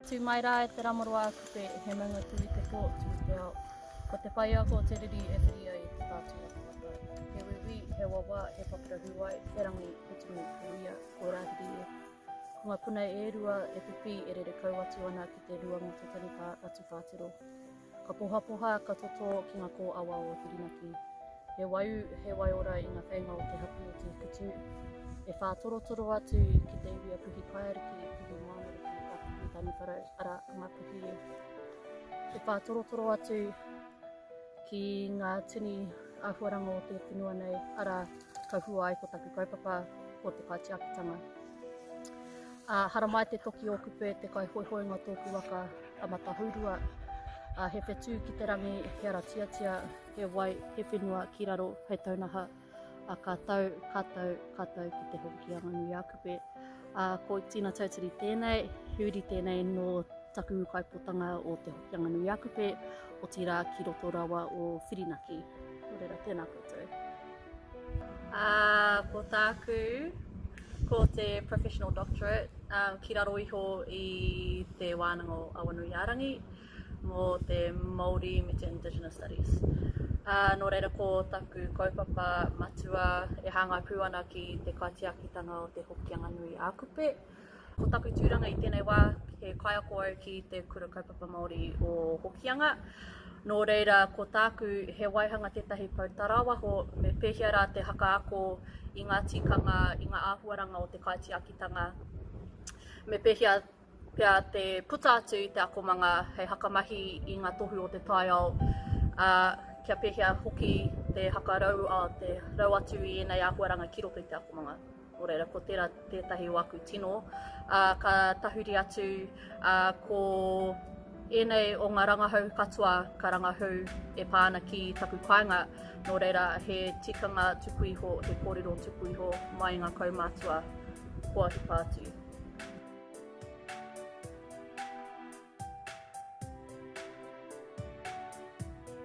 Tū mai rā e te Ramoroa a Kupe, he maungatū i te pō, tū i te ao. Ko te whaiako o te riri e whiri ai e te whātua o te waka. He wiwī, he wawa, he papura hūwai, he rangi, he tumu, he uia, kua rāhiri e. Ko ngā puna e rua, e pipī, e rere kau atu ana ki te rua mō te taniwha a Tūwhātero. Ka pohapoha, ka totō ki ngā kōawa o Whirinaki. He waiū, he waiora i ngā wheinga o te hapū o Te Hikutinu. E whā torotoro atu ki te iwi a Puhi Paeariki, Puhi Moanariki, a Puhi Taniwharau, arā, a Ngapuhi. E whā torotoro atu ki ngā tini āhuaranga o te whenua nei, arā, ka hua ai ko taku kaupapa, ko te kaitiakitanga. Ā, haramai te toki o kupe, te kaihoihoinga tōku waka, a Matahourua, a He Whetū ki te rangi, he ara tiatia, he wai, he whenua ki raro, hei taunaha, a ka tau, ka tau, ka tau ki te hoki a Nganu Iakupe. A ko Tina Tautari tēnei, he uri tēnei no taku kaipotanga o te hoki a Nganu Iakupe, o tira ki roto rawa o Whirinaki. Nō reira, tēnā koutou. Ā, ko tāku, ko te Professional Doctorate ki raro iho i te wānanga o Awanuiārangi mō te Māori me te Indigenous Studies. Ā, nō reira ko taku kaupapa matua e hāngai pū ana ki te kaitiakitanga o te Hokianga Nui ā-Kupe, Ko taku tūranga i tēnei wā, he kaiako au ki te Kura Kaupapa Māori o Hokianga. Nō reira, ko tāku, he waihanga tētahi pou tarāwaho, me pēhea rā te hakaako i ngā tikanga, i ngā āhuaranga o te kaitiakitanga, me pēhea pea te puta atu i te akomanga hei hakamahi i ngā tohu o te taiao, ā, kia pēhea hoki te hakarau, ā, te rau atu i ēnei āhuaranga ki roto i te akomanga. Nō reira, ko tērā tētahi o aku tino, ā, ka tahuri atu, ā, ko ēnei o ngā rangahau katoa ka rangahau e pā ana ki taku kāinga, nō reira, he tikanga tuku iho, he kōrero tuku iho mai i ngā kaumātua kua hipa atu.